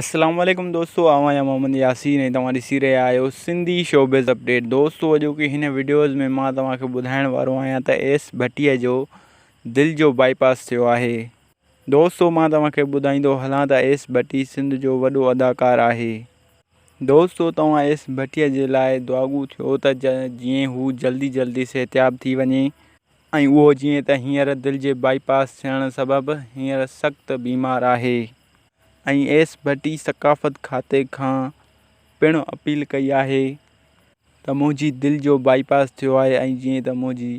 السلام عليڪم دوستو آئون آهيان محمد ياسين ۽ توهان ڏسي رهيا آهيو سنڌي شوبز اپڊيٽ دوستو اڄوڪي هن وڊيوز ۾ مان توهان کي ٻڌائڻ وارو آهيان ته ايس ڀٽي جو دل جو باء پاس ٿيو آهي دوستو مان توهان کي ٻڌائيندو هلان ته ايس ڀٽي سنڌ جو وڏو اداڪار آهي دوستو توهان ايس ڀٽي جي لاء دعاگو ٿيو ته جيئن هو جلدي جلدي صحتياب ٿي وڃي ۽ اهو جيئن ته هينئر دل جي بائي پاس ٿيڻ سبب هينئر سخت بيمار آهي ۽ ايس ڀٽي ثقافت کاتي کان پڻ اپيل ڪئي آهي ته منهنجي دل جو بائي پاس ٿيو آهي ۽ جيئن ته منهنجي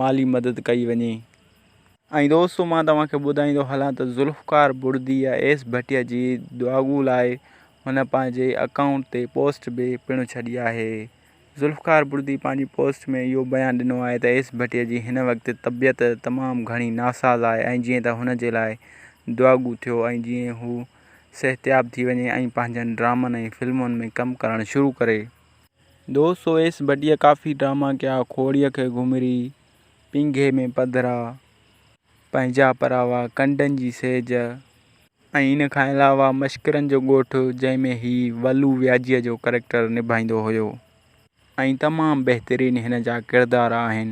مالي مدد ڪئي وڃي ۽ دوستو مان توهان کي ٻڌائيندو هلان ته ذوالفقار بڙدي يا ايس ڀٽي جي دعاڳو لاء هن پنهنجي اڪائونٽ تي پوسٽ به پڻ ڇڏي آهي. ذوالفقار بڙدي پنهنجي پوسٽ ۾ اهو بيان ڏنو آهي ته ايس ڀٽي جي هن وقت طبيعت تمام گهڻي ناساز آهي ۽ جيئن ته هن جي لاء دعاڳو ٿيو ۽ جيئن هو صحتياب ٿي وڃي ۽ پنهنجن ڊرامن ۽ فلمن ۾ ڪم ڪرڻ شروع ڪري. دوستو ايس ڀٽيء ڪافي ڊراما ڪيا، کوڙيء کي گهمري، پينگهي ۾ پڌرا، پنهنجا پراوا، ڪنڊن جي سيج، ۽ ان کان علاوه مشڪرن جو ڳوٺ جنهن ۾ هي ولو وياجيء جو ڪريڪٽر نڀائيندو هيو ۽ تمام بهترين هن جا ڪردار آهن.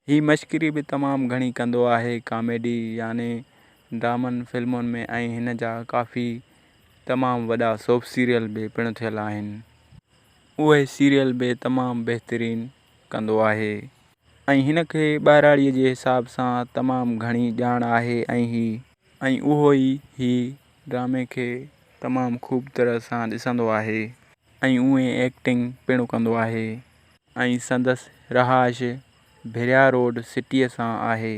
هي مشڪري به تمام گهڻي ڪندو آهي ڪاميڊي يعني ڊرامن فلمن ۾ ۽ هن جا ڪافي تمام وڏا سوپ سيريل به پڻ ٿيل آهن اهي سيريل به تمام بهترين ڪندو آهي ۽ هن کي ٻهراڙيء جي حساب سان تمام گهڻي ڄاڻ آهي ۽ هي ۽ اهو ئي هي ڊرامي کي تمام خوب طرح سان ڏسندو آهي ۽ اوهين ايڪٽنگ پڻ ڪندو آهي ۽ سندس رهائش ڀريا روڊ سٽي سان آهي.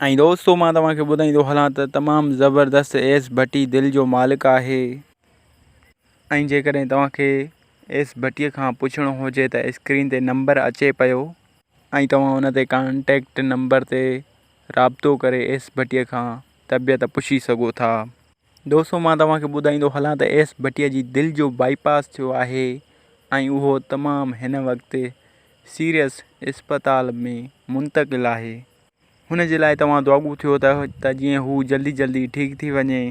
۽ دوستو مان توهان کي ٻڌائين ٿو هلان ته تمام زبردست ايس ڀٽي دل جو مالڪ آهي ۽ جيڪڏهن توهان کي ايس ڀٽي کان پڇڻو هجي ته اسڪرين تي نمبر اچي پيو ۽ توهان ان تي ڪانٽيڪٽ نمبر تي رابطو ڪري ايس ڀٽي کان طبيعت پڇي سگهو ٿا. دوستو مان توهان کي ٻڌائيندو هلان ته ايس ڀٽي جي دل جو بائي پاس ٿيو آهي ۽ اهو تمام هن وقت سيريس اسپتال ۾ منتقل آهي هن جي لاء توهان دعاگو ٿيو ته جيئن هو جلدي جلدي ٺيڪ ٿي وڃي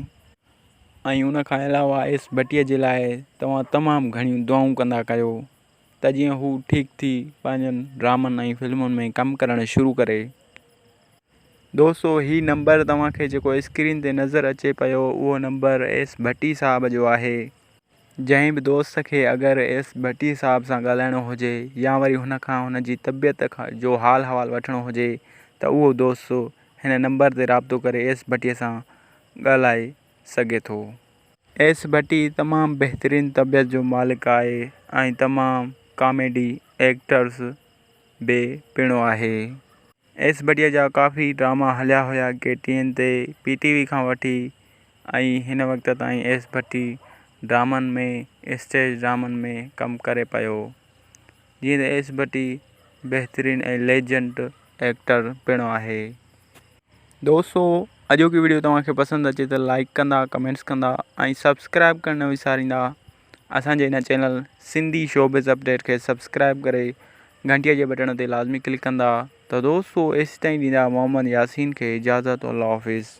۽ ان کان علاوه ايس ڀٽي جي لاء توهان تمام گهڻيون دعائون ڪندا ڪيو. ته جيئن هو ٺيڪ ٿي پنهنجن ڊرامن ۽ فلمن ۾ ڪم ڪرڻ شروع ڪري. دوستو هي نمبر توهان کي جيڪو اسڪرين تي نظر اچي پيو اهو نمبر ايس ڀٽي صاحب جو آهي. جنهن به دوست کي اگر ايس ڀٽي صاحب سان ڳالهائڻو هجي يا وري هن کان هن جي طبيعت جو حال حوال وٺڻو هجي ته اهو دوست هن نمبر تي رابطو ڪري ايس ڀٽي سان ڳالهائي سگهي ٿو. ايس ڀٽي تمام بهترين طبيعت جو مالڪ آهي ۽ تمام ڪاميڊي ايڪٽرز به پڻ آهي. ايس ڀٽي جا ڪافي ڊراما هليا هيا ڪي ٽي اين تي، پي ٽي وي کان وٺي ۽ هن وقت تائين ايس ڀٽي ڊرامن ۾ اسٽيج ڊرامن ۾ ڪم ڪري پيو. جيئن ته ايس ڀٽي بهترين ۽ ليجنڊ ايڪٽر پڻ آهي. دوستو اڄوڪي ويڊيو توهان کي پسند اچي ته لائڪ ڪندا ڪمينٽس ڪندا ۽ سبسڪرائب ڪرڻ نه وساريندا اسان جي هن چينل سنڌي شوبز اپڊيٽ کي سبسڪرائب ڪري گھنٽيء جي بٽڻ تي لازمي ڪلڪ ڪندا ته دوستو ايسي تائين ڏيندا محمد ياسين کي اجازت الله حافظ